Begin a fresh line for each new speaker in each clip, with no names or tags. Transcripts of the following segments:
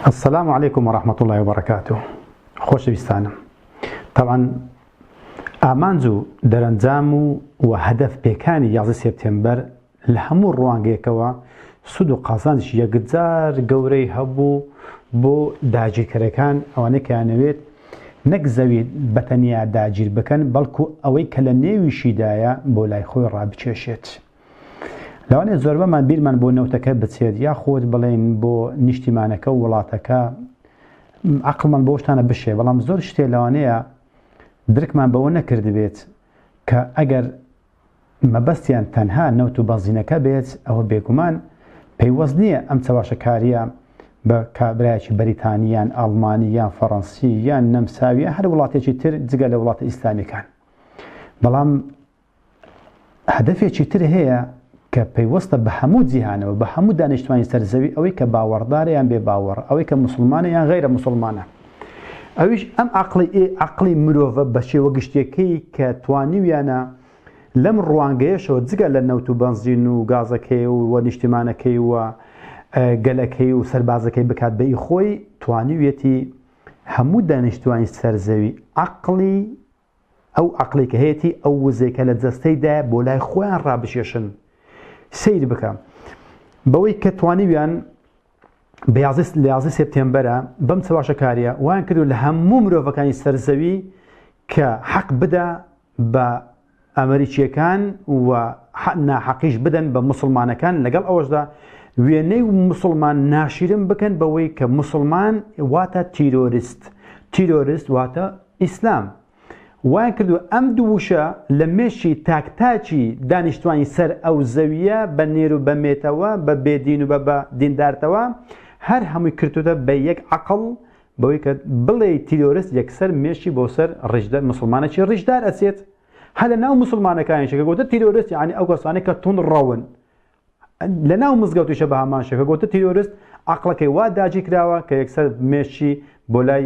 السلام علیکم ورحمة اللە وبرکاته خۆشەویستانم تەبعەن ئامانج و دەرەنجام و و هەدەف پێکانی یازدە سێپتێمبەر لە هەموو ڕوانگەیەکەوە سود و قازانش یەکجار گەورەی هەبوو بۆ داگیرکەرەکان ئەوانەی کەیانەوێت نەک زەوی بەتەنیا داگیر بکەن بەڵکو ئەوەی کە لە نێویشیدایە بۆ لای خۆی ڕابکێشێت لەوانەیە زۆربەمان بیرمان بۆ نەوتەکە بچێت یاخود بڵێن بۆ نیشتیمانەکە و وڵاتەکە عقلمان بۆ شتانە بشێ بەڵام زۆر شتێ لەوانەیە درکمان بەوە نەکردبێت کە ئەگەر مەبەستیان تەنها نەوت و بەزینەکە بێت ئەوە بێگومان پەیوەست نییە ئەم چەواشەکاریە بە کابراایکی بەریتانیان ئەڵمانی یان فەڕەنسی یان نەمساویە هەر وڵاتێکی تر جگە لە وڵاتە ئیسلامیەکان بەڵام هەدەفێکی تر هەیە کە پەیوەستە بە هەموو جیهانەوە، بە هەموو دانیشتوانی سەر زەوی، ئەوەی کە باوەڕدارە یان بێ باوەڕە، ئەوەی کە موسڵمانە یان غەیرە موسڵمانە. ئەویش ئەم عەقڵی ئێ عەقڵی مرۆڤە بە شێوە گشتیەکەی کە توانیویانە لەم ڕوانگەیەشەوە جگە لە نەوت و بەنزین و گازەکەی و و نیشتیمانەکەی و گەلەکەی و سەربازەکەی بکات بە ئی خۆی، توانیویەتی هەموو دانیشتوانی سەر زەوی عەقڵی ئەو عەقڵەی کە هەیەتی ئەو وزەی کە لە جەستەی دایە بۆ لای خۆیان ڕابکێشن سیر بکە بەوەی کە توانیویان بەیازست لە یازی سپتێمبەرە بەم چەواشەکاریە وان کردو لە هەموو مرۆڤەکانی سەرزەوی کە حەق بدا بە ئەمریکیەکان و ناحەقیش بدەن بە مسلمانەکان لەگەڵ ئەوەشدا وێنەی مسلمان ناشیرن بکەن بەوەی کە مسلمان واتە تیرۆریست تیرۆریست واتە ئیسلام، وایان کردووە ئەم دوو وشە لە مێشکی تاک تاکی دانیشتوانی سەر ئەو زەوییە بە نێر و بە مێتەوە، بە بێ دین و بە بە دیندارتەوە، هەر هەمووی کرتۆتە بە یەک عەقڵ، بەوەی کە بڵێی تیرۆرست یەکسەر مێشکی بۆ سەر ڕیشدە مسوڵمانێکی ڕیشدار ئەچێت، هەر لە ناو مسوڵمانەکانیشە کە گۆتە تیرۆرست یانی ئەو کەسانەی کە توند ڕەون، لە ناو مزگەوتیشە بە هەمان شێوە کە گۆتە تیرۆرست عەقڵەکەی وا داگیر کراوە کە یەکسەر مێشکی بۆ لای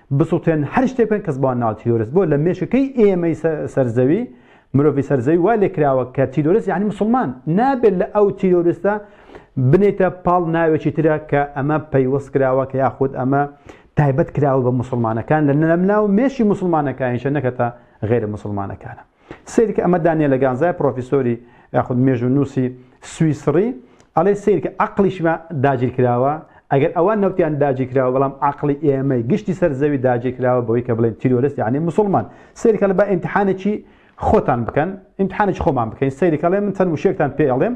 بسوتێن هەر شتێک بکەن کەس بۆیان ناوە تیرۆرست بۆ لە مێشکەکەی ئێمەی سەر زەوی مرۆڤی سەر زەوی وا لێکراوە کە تیرۆرست یعنی مسلمان نابێت لە ئەو تیرۆرستە بنێتە پاڵ ناوێکی ترە کە ئەمە پەیوەست کراوە کە یاخود ئەمە تایبەت کراوە بە مسلمانەکان لە نەمناو مێشی مسلمانەکانیشە نەکەتە غێرە مسلمانەکانە سەیرکە ئەمە دانیێلە گانزای پڕۆفیسۆری یاخود مێژوو نووسی سویسڕی ئەڵێ سیرکە عقلیشمە داگیر کراوە ئەگەر ئەوان نەوتیان داگیر کراوە بەڵام عقلی ئێمەی گشتی سەر زەوی داگیر کراوە بەوەی کە بڵێن تیرۆرست یعنی مسلمان سیرکە لە بە ئیمتحانێکی خۆتان بکەن ئیمتحانێکی خۆمان بکەین سیرکەڵێ من چەند وشێکتان پێڵێم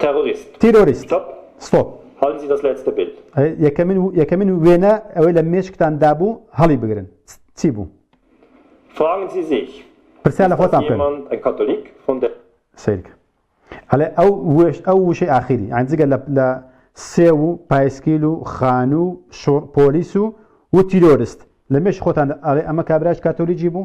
تێڕۆریست. تیرۆریست. ستۆپ. ستۆپ. هەڵی بزی دەست لای چتە بێل. یەکەمین یەکەمین وێنە ئەوەی لە مێشکتان دابوو هەڵی بگرن چی بوو؟ فراگن سی زیک. پرسیار لە خۆتان بکەن. ئیست داس یێماند ئەن کاتۆلیک فون دەر. سەیر کە. ئەڵێ ئەو وێش ئەو وشەی ئاخیری یانی جگە لە لە سێو و پایسکیل و خانوو و شۆڕ پۆلیس و و تیرۆرست لە مێشک خۆتان ئەڵێ ئەمە کابرایەکی کاتۆلیکی بوو؟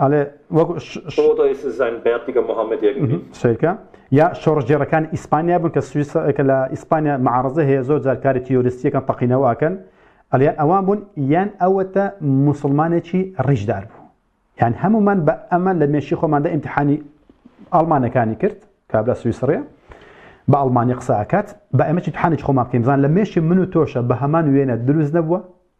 ئەڵێ وەک سەیرکە یا شۆڕژێڕەکان ئیسپانیا بوون کە سویسەکە لە ئیسپانیا معارزە هەیە زۆر جارکاری تیۆریستیەکەن تەقینەوەکەن ئەلیان ئەوان بوون یان ئەوەتە مسلمانێکی ڕیژدار بوو یان هەمومان بە ئەمە لە مێشی خۆماندا ئیمتحانی ئەڵمانەکانی کرد کابرا سویسڕە بە ئەڵمانی قساکات بە ئەمەی تحانێک خۆمان بکەین بزان لە مێشی من و تۆشە بە هەمان وێنە دروست نەبووە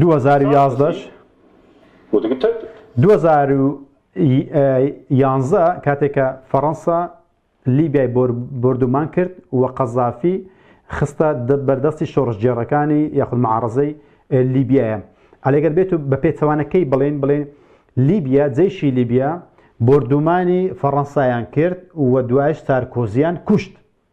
دوو هەزار و یازدەش دوو هەزار و یانزە کاتێکە فەڕەنسا لیبیای بردومان کرد و قەزافی خستە بەردەستی شۆڕشگێڕەکانی یاخود معارزەی لیبیایە ئەلێگەر بێت و بە پێچەوانەکەی بڵێن بڵێن لیبیا جەیشی لیبیا بردومانی فەڕەنسایان کرد و دوایش سارکۆزیان کوشت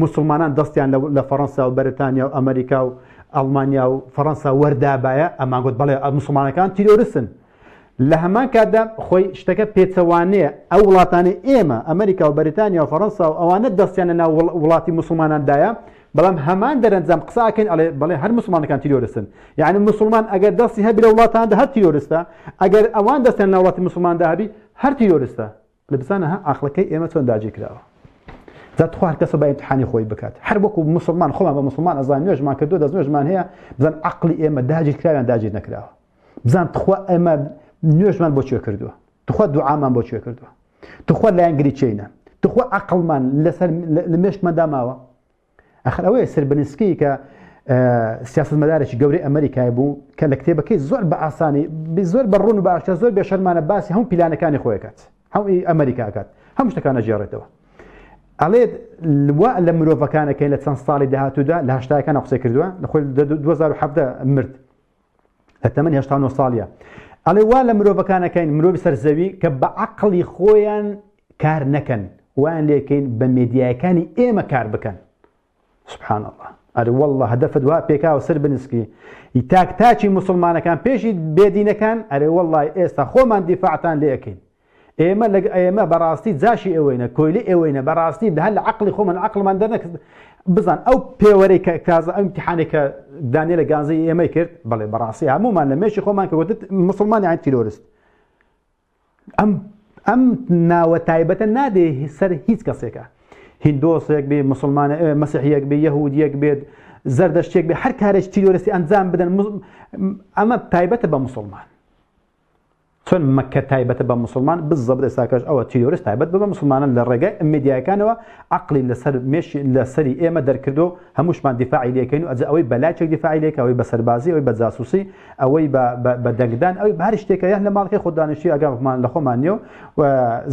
موسڵمانان دەستیان لە فەڕەنسا و بەرتانیا و ئەمەریکا و ئەڵمانیا و فەڕەنسا وەردابایە ئەمان گوت بەڵێ موسڵمانەکان تیرۆرستن لە هەمان کاتدا خۆی شتەکە پێچەوانەیە ئەو وڵاتانی ئێمە ئەمریکا و بەریتانیا و فەڕەنسا و ئەوانە دەستیانە ناو وڵاتی مسلماناندایە بەڵام هەمان دەرەنجام قساکەن ئەڵێ بەڵێ هەر مسلمانەکان تیرۆرستن یعنی مسلمان ئەگەر دەستی هەبی لە وڵاتاندا هەر تیرۆرستە ئەگەر ئەوان دەستیان ناوڵاتی مسلماندا هەبی هەر تیرۆرستە لە بزانە ها عقلەکەی ئێمە چۆن داگیر کراوە جا تخوا هەر کەسە با امتحانی خۆی بکات هەر وەکو مسلمان خۆمان بە مسلمان ئەزان نوێژمان کردو دەست نوێژمان هەیە بزان عقلی ئێمە داگیر کراویان داگیر نەکراوە بزان تخوا ئێمە نوێژمان بۆ کوێ کردووە تخوا دوعامان بۆ کوێ کردووە تخوا لایەنگری چینە تخوا عقلمان لەسەر لە مێشکمان داماوە ئەخر ئەوەیە سربنسکی کە سیاستمەدارێکی گەورەی ئەمریکای بوو کە لە کتێبەکەی زۆر بە ئاسانی زۆر بە ڕون و باشە زۆر بێشەرمانە باسی هەم پیلانەکانی خۆیکات هەم ئەمریکاکات هەم شتەکانە جێڕێتەوە ئەڵێت وا لە مرۆڤەکانەکەی لە چەند ساڵی داهاتوودا لە هشتاکان قسە کردووە لە خۆی 2017 مرد کە تەمەن هێشتا نۆ ساڵیە ئەڵێ وا لە مرۆڤەکانەکەین مرۆڤ سەرزەوی کە بە عقلی خۆیان کار نەکەن وان لێکەین بە مێدیایەکانی ئێمە کار بکەن سبحان الله ئەر والله هەدەفت وا پێکاوە سەر بنسکی ئی تاک تاچی مسلمانەکان پێشی بێدینەکان ئەرێ والله ئێستا خۆمان دیفاعتان لێەکەین ئێمە لەگ ئێمە بەڕاستی جاشی ئێوەینە کۆیلی ئێوەینە بەڕاستی هەر لە عقلی خۆمان عقلمان دەرنەک بزان ئەو پێوەرەی کە کازە ئەم تحانێک کە دانێ لە گازی ئێمەی کرد بەڵێ بەڕاستی هەمومان لە مێشی خۆمان کە وتت مسلمانی عین تیرۆرست ئەم ئەم ناوە تایبەتە نادێ سەر هیچ کەسێکە هندۆسێک بێ مسلمانە مەسیحیەک بێ یەهودیەک بێت زەردەشتێک بێ هەر کارێک تیرۆرستی ئەنجام بدەن ئەمە تایبەتە بە مسلمان چۆن مەککە تایبەتە بە موسڵمان بزەبت ئێستاکەش ئەوە تیرۆرست تایبەت بە موسڵمانان لە ڕێگای ئەمێدیایەکانەوە عەقڵی لەسەر مێش لە سەری ئێمە دەرکردو هەمووشمان دیفاعی لێکەین و ئەجە ئەوەی بە لاکێک دیفاعی لێکە ئەوەی بە سەربازی ئەوەی بە جاسوسی ئەوەی بە دەنگدان ئەوەی بە هەر شتێکە یان لە ماڵەکەی خۆ دانیشتی ئەگەمان لە خۆمان نیە و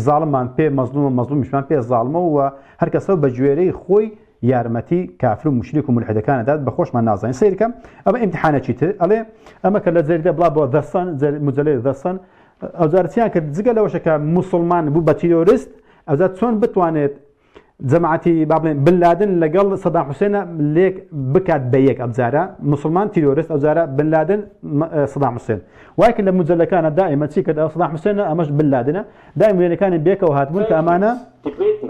زاڵمان پێ مەزلوم و مەزلومیشمان پێ زاڵمە و هەر کەسە بە گوێرەی خۆی یارمەتی کافر و مشریک و ملحدەکان ئەدات بە خۆشمان نازانین سیر کە ئەمە ئیمتحانێکی تر ئەڵێ ئەمە کە لە جەریدە بڵا بۆ دەستان مجلەی دەستان ئەوجارچیان کرد جگە لەوەشە کە مسلمان بوو بە تیرۆریست ئەوجار چۆن بتوانێت جەماعەتی با بڵێن بن لادن لەگەڵ سەدا حوسێنە لێک بکات بە یەک ئەبجارە مسلمان تیرۆریست ئەوجارە بن لادن سەدا حوسێن وایکە لە مجلەکانە دائمە چی کرد ئەو سەدا حوسێنە ئەمەش بن لادنە دایم وێنەکانی بێکەوە هاتبوون کە ئەمانە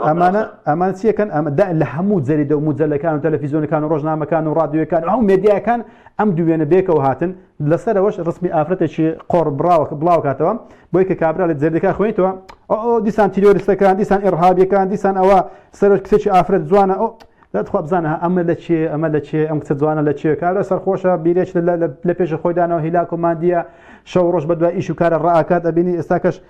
ئەمانە ئەمان چیەکەن ئەمە لە هەموو جەریدە و مجللەکان و تەلەفیزیۆنەکان و ڕۆژنامەکان و ڕادیوەکان ئەو مێدیاکان ئەم دوێنە بێکەوە هاتن لەسەرەوەش ڕسمی ئافرەتێکی قۆڕ بڕاوە بڵاو کاتەوە بۆی کە کابرا لە جەردەکە خوێنیتەوە ئەو دیسان تیرۆریستەکان دیسان ئێڕهابیەکان دیسان ئەوە سەرۆک کچێکی ئافرەت جوانە ئەو دەخوا بزانە ئەمە لە چێ ئەمە لە چێ ئەم کچە جوانە لە چێ کارە سەرخۆشە بیرێک لە پێش خۆیدانەوە هیلاکۆماندیە شەو ڕۆژ بە دوای ئیش و کارە ڕاکات ئەبینی ئێستاکەش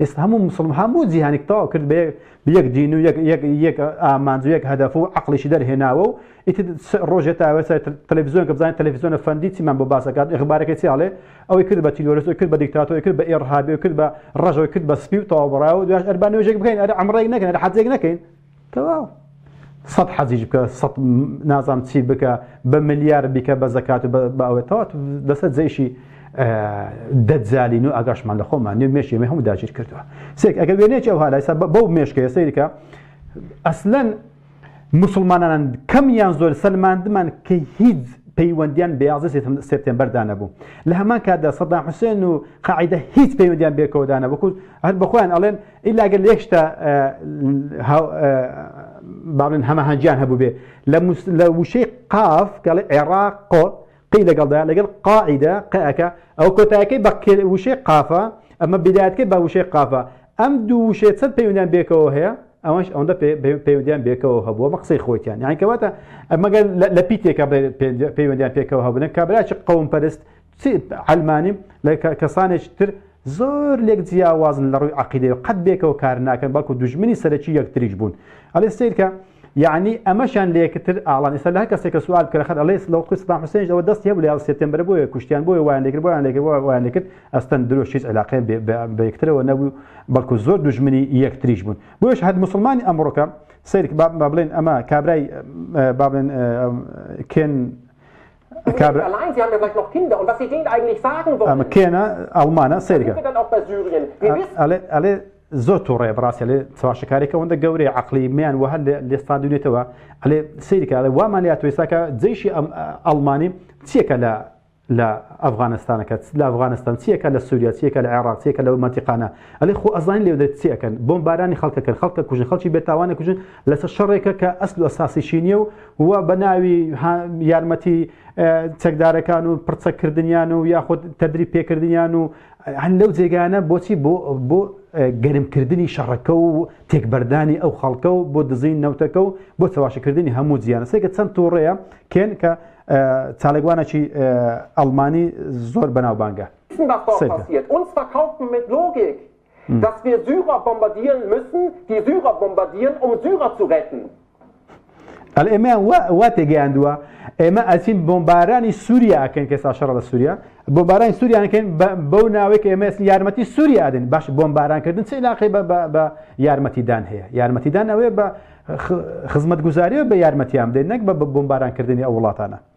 ئێستا هەموو مسلم هەموو جیهانیک تەواو کرد بە یەک دین و یەک ئامانج و یەک هەدەف و عقلیشی دەرهێناوە و ئیت ڕۆژێ تاوە سەر تەلەڤزیۆن کە بزانین تەلەڤزیۆنە فەندی چیمان بۆ باسەکات ئەخبارەکە چیاڵێ ئەوەی کرد بە تیرۆرس کرد بە دیکتاتۆی کرد بە ئێڕهابێ کرد بە ڕژەوەی کرد بە سپی و تەواوبڕاو و دوش ئەربانێژێک بکەین ئەرە ئەمڕێک نەکەن حەجێک نەکەین تەواو سەد حەجیش بکە سەد نازام چی بکە بە ملیار بیکە بە زەکات و باوێتەوە دەسە جێشی دەجالین و ئاگاشمان لە خۆمان نێ مێشی مە هەموو داگیر کردووە سێک ئەگە وێنێکی ئەو هالایسا بەو مێشکە سیرکە ئەسلەن مسلمانان کەم یان زۆر سەلماندمان کە هیچ پەیوەندیان بەیازە سپتمبەردا نەبوو لە هەمان کاتدا سەدام حوسێن و قاعدە هیچ پەیوەندیان بێکەوەدانە بکوت هەر بەخۆیان ئەڵێن ئیلا گەر یەک شتە با بڵێن هەماهەنگییان هەبووبێ لە وشەی قاف گەڵی عێراق قۆ قی لەگەڵدا لەگەڵ قاعدە قەکە ئەو کۆتایەکەی بە وشەی قافە ئەمە بدایەتکەی بە وشەی قافە ئەم دوو وشێ چەند پەیوەندیان بێکەوە هەیە ئەوەش ئەوەندە پەیوەندیان بێکەوە هەبووە مە قسەی خۆیان یانکەواتە ئەمەگەر لە پیتێکە پەیوەندیان پێکەوە هەبوون کابراچ قوم پەرست چ عەلمانی و لە کەسانێکی تر زۆر لێک جیاوازن لە ڕووی عقیدەی و قەت بێکەوە کار ناکەن بەڵکو دوژمنی سەرەکی یەکتریش بوون ئەلێ سیرکە یعنی ئەمەشان لە یەکتر ئاڵان ئێستا لە هەر کەسێک کە سوال بکەن خەر ئەلێ لەوقی سەدام حوسێنش ئەوە دەستی هەبوو لە یازدە سێپتێمبەر بۆیە کوشتیان بۆیە وایان لێکرد بۆیان لێکرد بۆیان وایان لێکرد ئەستەن درۆش هیچ علاقەیان بە یەکترەوە نەبوو بەڵکو زۆر دوژمنی یەکتریش بوون بۆیش هەر مسلمانی ئەمڕۆکە سیرک با بڵێن ئەمە کابرای با بڵێن کێن کێنە ئەڵمانە سەیرگە ئەلێ زۆر تووڕێ بڕاستە لێ چواشەکارێکە وەندە گەورەی عقلی میان وە هەر لێستان دوێتەوە ئەلێ سیرکە لە وامان لە توێساکە جیشی ئەم ئەڵمانی چیەکە لە لە ئەفغانستانەکە لە ئەفغانستان چیەکە لە سووریا چیەکە لە عێراقیەکە لە مەتیقانە ئەلێ خۆ ئەزان لێ دەێت چیەکەن بۆم بارانی خەڵکەکەن خەڵکە کوژن خەڵکی بێتاوانە کوژن لەسەر شەڕێکە کە ئەسل و ئەساسیشی نیە و و بە ناوی یارمەتی چەکدارەکان و پرچە کردنیان و یاخود تەدری پێکردنیان و هەن لەو جێگانە بۆچی بۆ بۆ گەرمکردنی شەڕەکە و تێکبەردانی ئەو خەڵکە و بۆ دزین نەوتەکە و بۆ چەواشەکردنی هەموو جیانە سێکە چەند تۆڕەیە کێن کە چاالێکوانەکی ئەلمانی زۆر بەناوبانگە. Dass wir Syrer bombardieren müssen, die Syrer bombardieren, um Syrer zu retten. ئەڵێ ئێمەیان وا تێگەیاندووە ئێمە ئەچین بۆمبارانی سووریا ئەکەین کەسا شەڕ لە سووریا بۆمبارانی سووریانەکەین بەو ناوێک ئێمە یارمەتی سووریا ئەدەین باش بۆمبارانکردن چی لاقی بە یارمەتیدان هەیە یارمەتیدان ئەوێ بە خزمەت گوزاریەوە بە یارمەتیان بدەین نەک بە بۆمبارانکردنی ئەو وڵاتانە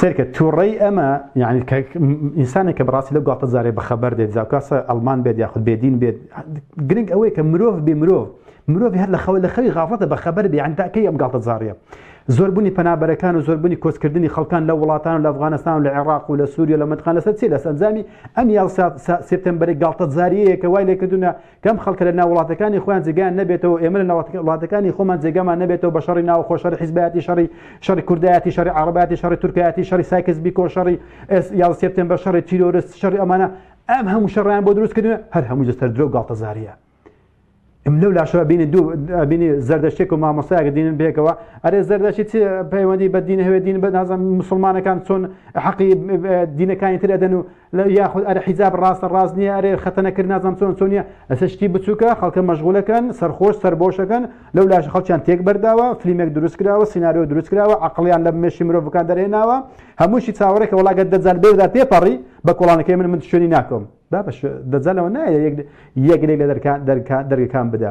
سرکە تووڕی ئەمە یعنی ئینسانێک کە بڕاستی لە گوڵاتە زارێ بەخەبەر دێت زاکاسە ئەلمان بێت یاخود بێدین بێت گرنگ ئەوەیە کە مرۆڤ بێ مرۆڤ مرۆڤ هەر لە خەوە لە خەوی غافڵەتە بەخەبەر بێ ئەنداکەی ئەم گاڵتە زاریە زۆربوونی پەنابەرەکان و زۆربوونی کۆچکردنی خەڵکان لە وڵاتان و لە ئەفغانستان و لە عێراق و لە سووریە لە متقان لەسەر چی لە سەنجامی ئەم یا سپتمبەری گاڵتە زاریەکە وای لێکردونە کەم خەڵکە لە ناوڵاتەکانی خۆیان جێگان نەبێتەوە ئێمە لە وڵاتەکانی خۆمان جێگەمان نەبێتەوە بە شەڕی ناو خۆ شەڕی حیزبایەتی شەڕی شەڕی کوردایەتی شەڕی عربەتی شەڕی تورکایەتی شەڕی سایکس بیکۆ شەڕی ئێس یا سپتم بە شەڕی تیرۆرست شەڕی ئەمانە ئەم هەموو شەڕیان بۆ دروستکردن هەر هەموو جستەر درۆ گاڵتەزاریە ئەم لەو لاشەوە بینی دوو بینی زەردەشتێک و مامۆستایەکە دینن بێکەوە ئەرێ زەردەشی چی پەیوەندی بە دین هەوێ دین بە نازم مسلمانەکان چۆن حەقی دینەکانی تر ئەدەن و لە یاخود ئەرە حیجاب ڕاستە ڕاست نییە ئەرێ خەتەنە کرد نازانم چۆن چۆن نییە ئەسە شتی بچووکە خەڵکە مەشغولەکەن سەرخۆش سەربۆشەکەن لەو لاش خەڵکیان تێک بەرداوە فلیمێک دروست کراوە سینناریۆ دروست کراوە عقلیان لە مێشی مرۆڤەکان دەرێناوە هەمووشی چاوەڕێکە وڵاگە دەجال بێدا پێپەڕی بە کۆڵانەکەی من من شوێنی ناکەم با بەش دەجالەوە نایە یەک یەک لێک لە دەرکان دەرکان دەرگەکان بدە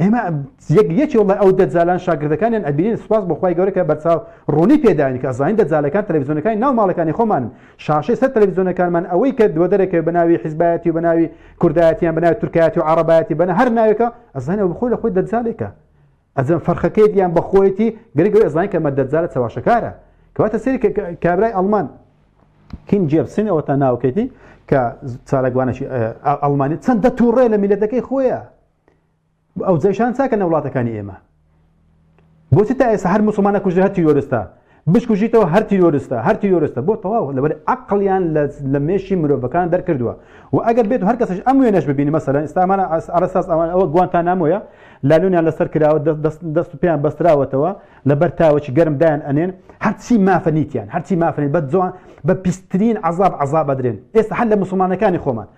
ئێمە یەک یەکی وڵە ئەو دەجالان شاگردەکانیان ئەبیین سپاس بەخوای گەورەکە بەرچاو ڕوونی پێداین کە ئەزانین دەجالەکان تەلەڤزیۆنەکانی ناو ماڵەکانی خۆمان شاشەی سەر تەلەڤزیۆنەکانمان ئەوەی کە دووە دەرەکە بەناوی حیزبایەتی و بەناوی کوردایەتیان بەناوی تورکایەتی و عربایەتی بەە هەر ناوێکە ئەزانە بخۆی لە خۆی دەجالێکە ئەزم فەرخەکەیت یان بەخۆیەتی گرگەوەی ئەزانین کە مەدەجالە چەواشەکارە کەواتە سری کابرای ئەلمان کین جێبسن ئەوە تا ناوکێتی کە چارەگوانەی ئەلمانی چەندە تووڕێ لە میلەتەکەی خۆیە ئەو جەشان چاکە نە وڵاتەکانی ئێمە بۆ چ تا ئێستا هەر مسلمانە کوژرە هەر تیرۆرستە بشکوژیتەوە هەر تیرۆرستە هەر تیرۆرستە بۆ تەواو لەبەر عقلیان لە مێشی مرۆڤەکان دەرکردووە و ئەگەر بێت هەر کەسش ئەم وێنەش ببینی مەسەلەن ئستامانە ئەرساس ئەوان ئەوە گوانتان نامۆیە لالونیان لەسەر کراوە دەست پێیان بەستراوەتەوە لەبەر تاوەکی گەرم دایان ئەنێن هەرچی مافەنیتیان هەرچی مافەنیت بە جوان بە پیسترین عذاب عذاب بدرێن ئێستا هەر لە مسلمانەکانی خۆمان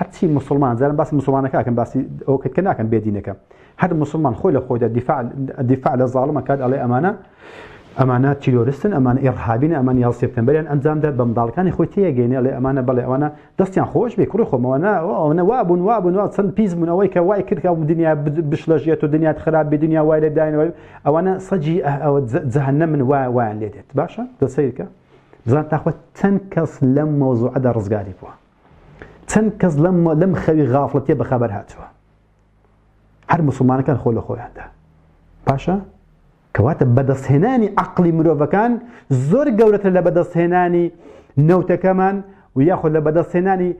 هەرچی موسڵمان جارم باسی موسڵمانەکە ئەکەم باسی ئەو کە ناکەم بێدینەکە هەر موسڵمان خۆی لە خۆیدا دیفاع دیفاع لە زاڵمە کات ئەڵێ ئەمانە ئەمانە تیرۆرستن ئەمان ئێڕهابین ئەمان یا سپتمبریان ئەنجامدا بە منداڵەکانی خۆی تێگەینێ لێ ئەمانە بڵێ ئەوانە دەستیان خۆش بێ کوڕی خۆمەوەنا ئەوەنە وابوون وابوون وا چەند پیس بوونەوەی کە وای کردکە و دنیا بشلەژێت و دنیات خراپ بێ دنیا وای لە داینەوە ئەوانە سەجی ئەوە جەهنە من وای وایان لێ دێت باشە دەسەیرکە بزان تاخۆ چەند کەس لەم مەوزوعەدا ڕزگاری بووە چەند کەس لەم لەم خەوی غافڵەتیە بەخەبەر هاتووە هەر مسلمانەکان خۆ لە خۆیاندا باشە کەواتە بەدەستهێنانی عقلی مرۆڤەکان زۆر گەورەتر لە بەدەستهێنانی نەوتەکەمان و یاخۆ لە بەدەستهێنانی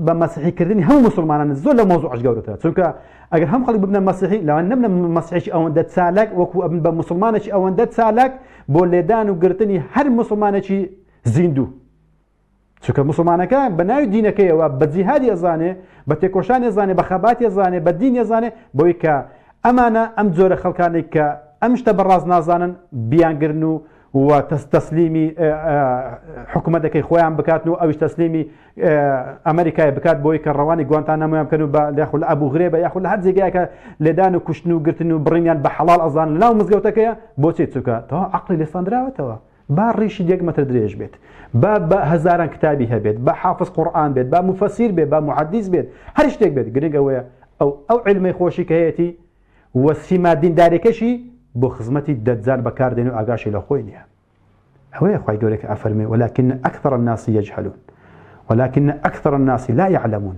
بە مەسیحیکردنی هەموو مسلمانان زۆر لە مۆزوعش گەورەتە چونکە ئەگەر هەم خەڵک ببنە مەسیحی لەوان نەبنە مەسیحێکی ئەوەندە چالاک وەکو ئەبن بە مسلمانێکی ئەوەندە چالاک بۆ لێدان و گرتنی هەر مسلمانێکی زیندوو چکە مسلمانەکە بە ناوی دینەکەیەوە بە جیهادی ئەزانێ بە تێکۆشان ێزانێ بە خەباتی زانێ بە دین ێزانێ بۆی کە ئەمانە ئەم جۆرە خەڵکانێک کە ئەم شتە بەڕاز نازانن بیانگرن و و تەسلیمی حکوومەتەکەی خۆیان بکاتن و ئەوش تەسلیمی ئەمریکای بکات بۆی کە ڕەوانی گوانتان نامۆیان بکەن و بە لەخل ئەبوو غرێ بە یاخل هەر جێگایکە لێدان و کوشتن و گرتن و بڕینیان بە حەڵال ئەزان لەناو مزگەوتەکەیە بۆچێت چووکە تەوا عقلی لێساندراوەتەوە با ڕیشی یەک مەتر درێژ بێت با بە هەزاران کتابی هەبێت با حافظ قورئان بێت با مفەسیر بێت با محەدیث بێت هەر شتێک بێت گرنگ ئەوەیە ئەو ئەو علمەی خۆشی کە هەیەتی و سیما دیندارێکەشی بۆ خزمەتی دەجال بەکاردێن و ئاگاشی لە خۆی نییە ئەوەیە خی گەورێک ئەفەرمێ ولكن أكثر الناس يجهلون ولكن أكثر الناس لا يعلمون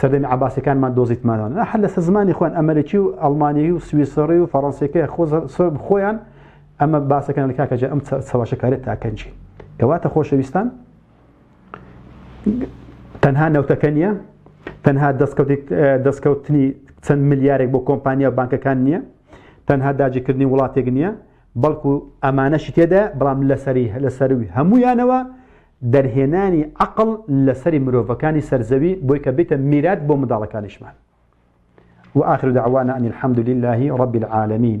سەردەمی عباسەکانمان دۆزیتمانەوە نە هەر لەسەر زمانی خۆیان ئەمریکی و ئەڵمانیی و سویسڕی و فەڕەنسیەکە خۆیان ئەمە باسەکان لە کاکەجا ئەم چەواشەکارێت تاکەنجی کەواتە خۆشەویستان تەنها نەوتەکە نییە تەنها دەستکەوتنی چەند ملیارێک بۆ کۆمپانیا و بانکەکان نییە تەنها داجیکردنی وڵاتێک نییە بەڵکو ئەمانەشی تێدا بەڵام لەسەری لەسەروی هەمویانەوە دەرهێنانی عەقڵ لە سەری مرۆڤەکانی سەر زەوی بۆی کە بیتە میرات بۆ منداڵەکانیشمان. وآخر دعوانا ان الحمدللە رب العالمین.